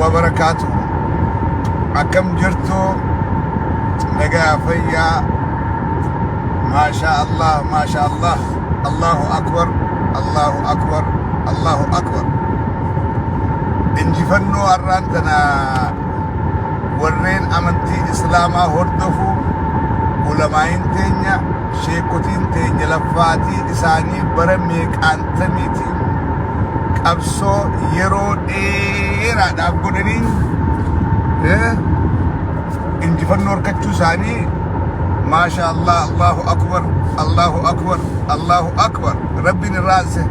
wabarakaatu akkam jirtu nagaa fayyaa maashaa allah maashaa allah allahu akbar allahu akbar allahu akbar injifannoo har'aan tana warreen amantii islaamaa hordofu ulamaa'iin teenya sheekotiin teenya laffaatii isaanii bara meeqaantamiitiin qabsoo yeroo dheeraadhaaf godhanii eh, injifannoo harkachuu isaanii maasha allah allahu akbar allahu akbar allahu akbar rabbiin irraa anse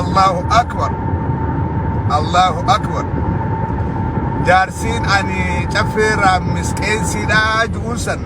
allahu akbar allahu akbar jaarsiin ani caffee raammis qeensiidhaa ju'uun san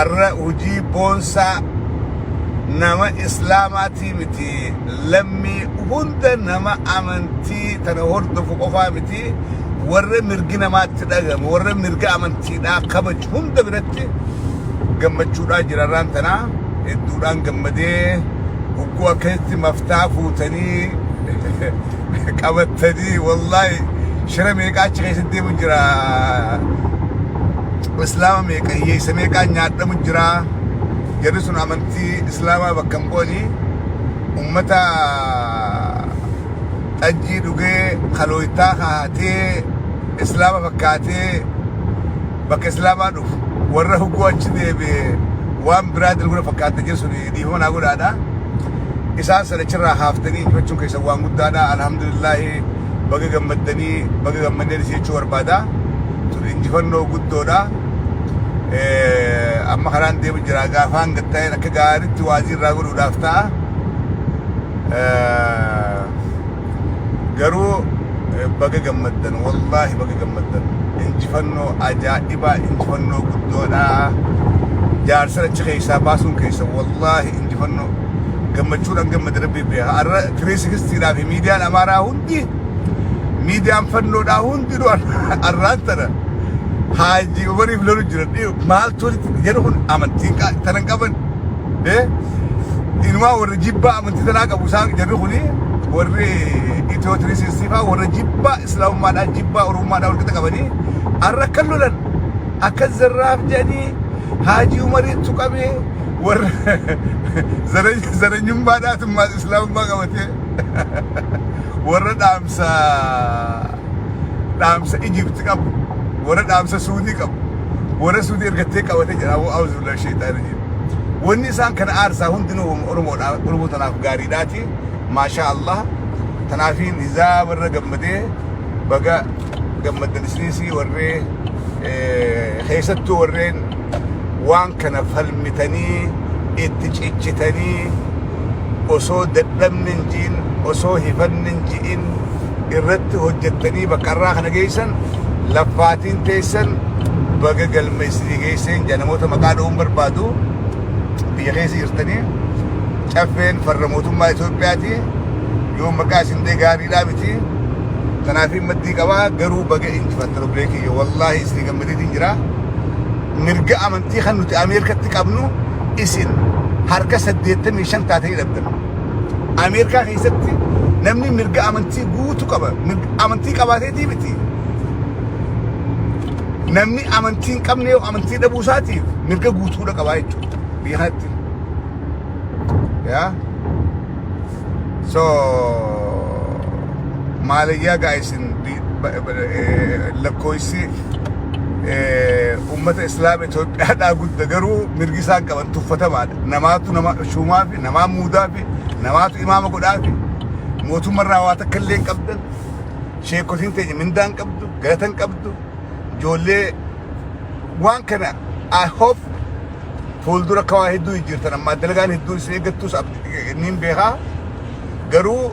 arra hujii boonsaa nama islaamaatii miti lammii hunda nama amantii tana hordofu qofaa miti warra mirgi namaatti dhagama warra mirga amantiidhaa kabaju hunda biratti gammachuudhaa jirarraan tanaa hedduudhaan gammadee hogguu akkasitti maftaa fuutanii qabattanii wallaahi shira meeqaa achi keessatti deemu jira Islaama meeqa hiyyeessa meeqaan nyaadhamu jira jarri sun amantii islaamaa bakka hin bu'anii ummata xajjii dhugee kalooytaa kaatee islaama fakkaatee bakka islaamaa dhufu warra huguu achi deebi'e waan biraa dalguna fakkaata jedhu sun dhiifama naa godhaadha isaan sana achirraa haaftanii injifachuun keessan waan guddaadha alhamdulillaahi baga gammaddanii baga gammaddan jechuu barbaada. Tun injifannoo guddoodha. Amma karaan deemu jira gaafaan gatta'een akka gaariitti waajii irraa godhuudhaaf ta'a. Garuu baga gammaddan wallaahi baga gammaddan injifannoo ajaa'ibaa injifannoo guddoodha. Jaarsa achi keessaa baasuun keessa wallaahi injifannoo gammachuudhaan gammade rabbii beeka. 360dhaa fi miidiyaan Amaaraa hundi miidiyaan fannoodhaa hundinuu arraan tana haajii umariif lolu jiran maaltu jedhu kun amantiin tana hin qaban inumaa warri jibbaa amantii tanaa qabu isaan jedhu kuni warri itiyoo tirii siistifaa warra jibbaa islaamummaadhaa jibbaa oromummaadhaa wal qixa qabanii arra kan lolan akka zarraaf jedhanii haajii umarii tuqamee warra zarenya- zarenyummaa dhaatummaas islaamummaa qabatee warra dhaamsa dhaamsa Ijipti qabu warra dhaamsa Suudii qabu warra Suudii ergattee qabate jira auzubillah sheexaan rajim wanni isaan kana aarsaa hundinuu wama Oromoodha Oromoo tanaaf gaariidhaati maashaa Allah tanaafiin izaa warra gammadee baga gammaddan isinis warree eh, keessattuu warreen waan kana falmitanii itti cichitanii osoo dadhabni hin ji'in osoo hifanni hin ji'in irratti hojjettanii bakka irraa kana geessan laffaatiin teessan baga galma isinii geesseen jedha namoota maqaa dha'uun barbaadu biyya keessa jirtanii caffeen farra mootummaa Itoophiyaati yoo maqaa isin ta'e gaariidhaa miti kanaaf maddii qabaa garuu baga injifattan obbolee kiyya wallaahi isinii Madidiin jira. Mirga amantii kan nuti Ameerikatti qabnu isin harka 85 taatanii dhabdan. Ameerikaa keessatti namni mirga amantii guutu qaba. Mirga amantii qabaateetii miti. Namni amantii hin qabne yoo amantii dhabuu isaatiif mirga guutuudha qabaa jechuudha. Biyya kanatti. Yaa. So maaliyyaa gaa isin lakkooysi ummata islaama Itoophiyaadhaa gudda garuu mirgi isaan qaban tuffatamaadha. Namaatu nama shuumaa fi namaa muudaa fi namaatu imaama godhaa fi mootummaa irraa waa takka illee hin qabdan. Sheekotiin teenya mindaa hin qabdu, galata hin qabdu. Ijoollee waan kana I hope fuuldura akka waa hedduu jijjiirtan ammaa dalagaan hedduun isin eeggattus abdi- niin beekaa garuu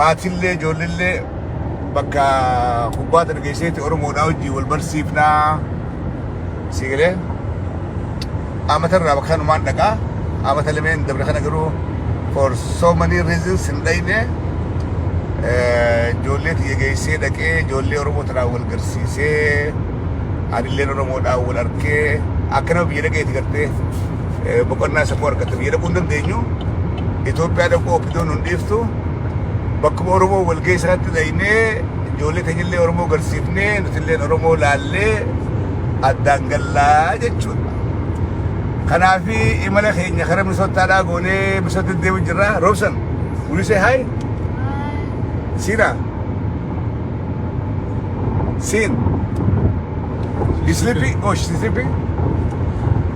maatillee ijoollellee bakka kubbaa tana geesseeti Oromoodhaa wajjin wal barsiifnaa sii galee amata irraa bakka kanumaan dhaqaa amata lameen dabre kana garuu for so many reasons hin dhayne ijoollee tiyya geessee dhaqee ijoollee Oromoo tanaan wal garsiisee anilleen Oromoodhaan wal arkee akka nama biyya dhaqeeti gartee eh, boqonnaa sammuu argatte biyya dhaquu hin dandeenyu Itoophiyaa dhaquu oppidoon nun dhiiftu bakkuma Oromoo walga'ii sanatti dhaynee ijoollee teenyallee Oromoo garsiifnee nutilleen Oromoo laallee addaan gallaa jechuudha. Kanaaf imala keenya karaa Minisootaadhaa goonee Minisootti deemu jirra. Roobsan, will you say hi? Siina, Sin. You sleepy? Oh, she's sleepy?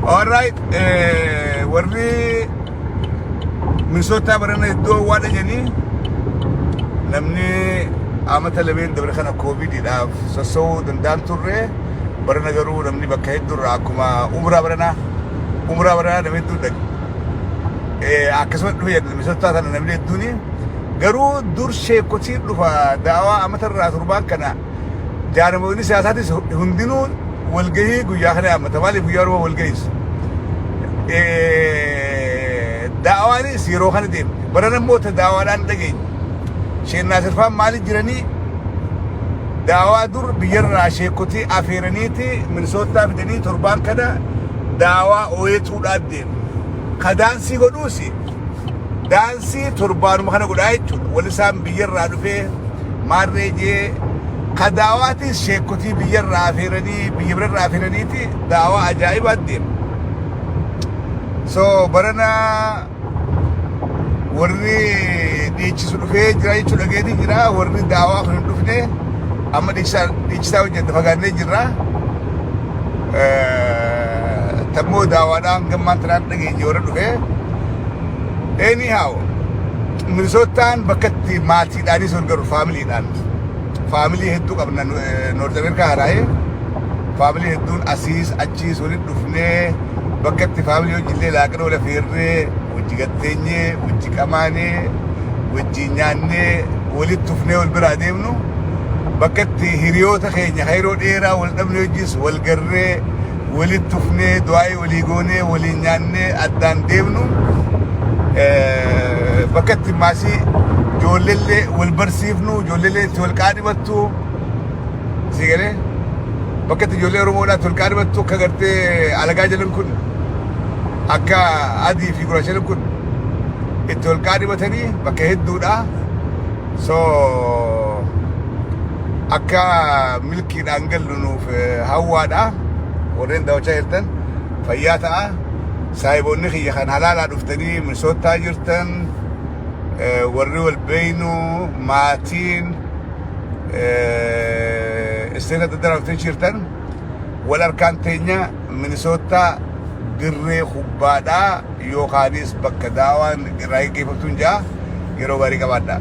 All right. Eh, warri Minnesota barana iddoo waadha jedhanii namni amata lameen dabre kana koovidiidhaaf sossoo'uu danda'an turre barana garuu namni bakka hedduurra akkuma umraa barana umraa barana namni hedduu dhaqe. Eh, akkasumas dhufe jedhu Minnesota sana namni hedduuni Garuu dur sheekkotiin dhufa daawaa amata irraa turbaan kana jaarmoonni siyaasaatis hundinuu walgahii guyyaa kana yaammata. Maaliif guyyaa Oromoo walgahiis? Daawaanis yeroo kana deemte. Baran immoo ta daawaadhaan dhageenye. Sheennaa sirfaan maali jiranii? Daawaa dur biyyarraa sheekkotii afeeraniiti minisootaa fidanii torbaan kana daawaa ooyetuudhaan deemu. Kadaansii godhuusi. daansii torbaanuma kana godhaa jechuudha. Wal isaan biyyarraa dhufee maarree jee ka daawaatis sheekotii biyyarraa afeeranii biyya birarraa afeeraniiti daawaa ajaa'ibaa deema. So barana warri dhiichisu dhufee jira jechuudha dhageetii jira warri daawaa kan hin dhufne amma dhiichisaa dhiichisaa hojjette fagaannee jirra. Eh, Tammoo daawaadhaan gammaan tanaan dhageenye warra dhufee anyhow minisootaan bakka itti maatiidhaanis wal garu faamiliidhaan faamilii hedduu qabna noort ameerikaa haraa'ee faamilii hedduun asiis achiis walitti dhufnee bakka itti faamilii hojiillee laaqana wal affeerree wajji gatteenyee wajji qamaanee wajji nyaannee walitti tufnee wal biraa deemnu bakka itti hiriyoota keenya yeroo dheeraa wal dhabnee hojiis wal garree walitti dhufnee du'aa'ii walii goonee waliin nyaannee addaan deemnu bakka itti maasii ijoolleellee wal barsiifnu ijoolleellee itti wal qaadhimattu si galee bakka itti ijoollee Oromoodhaa itti wal qaadhimattu akka gartee alagaa jalan kun akka adii fi gurraachan kun itti wal qaadhimatanii bakka hedduudhaa so akka milkiidhaan gallu nuuf eh, hawwaadha warreen daawachaa jirtan fayyaa ta'a saahiboonni kiyya kan halaalaa dhuftanii misoottaa jirtan eh, warri wal beeynu maatiin eh, isteeta daddaraaftee jirtan wal harkaan teenya Minisoottaa dirree kubbaadhaa yookaanis bakka daawaan irraa geggeeffamtuun ja'a. Yeroo gaarii qabaadhaa!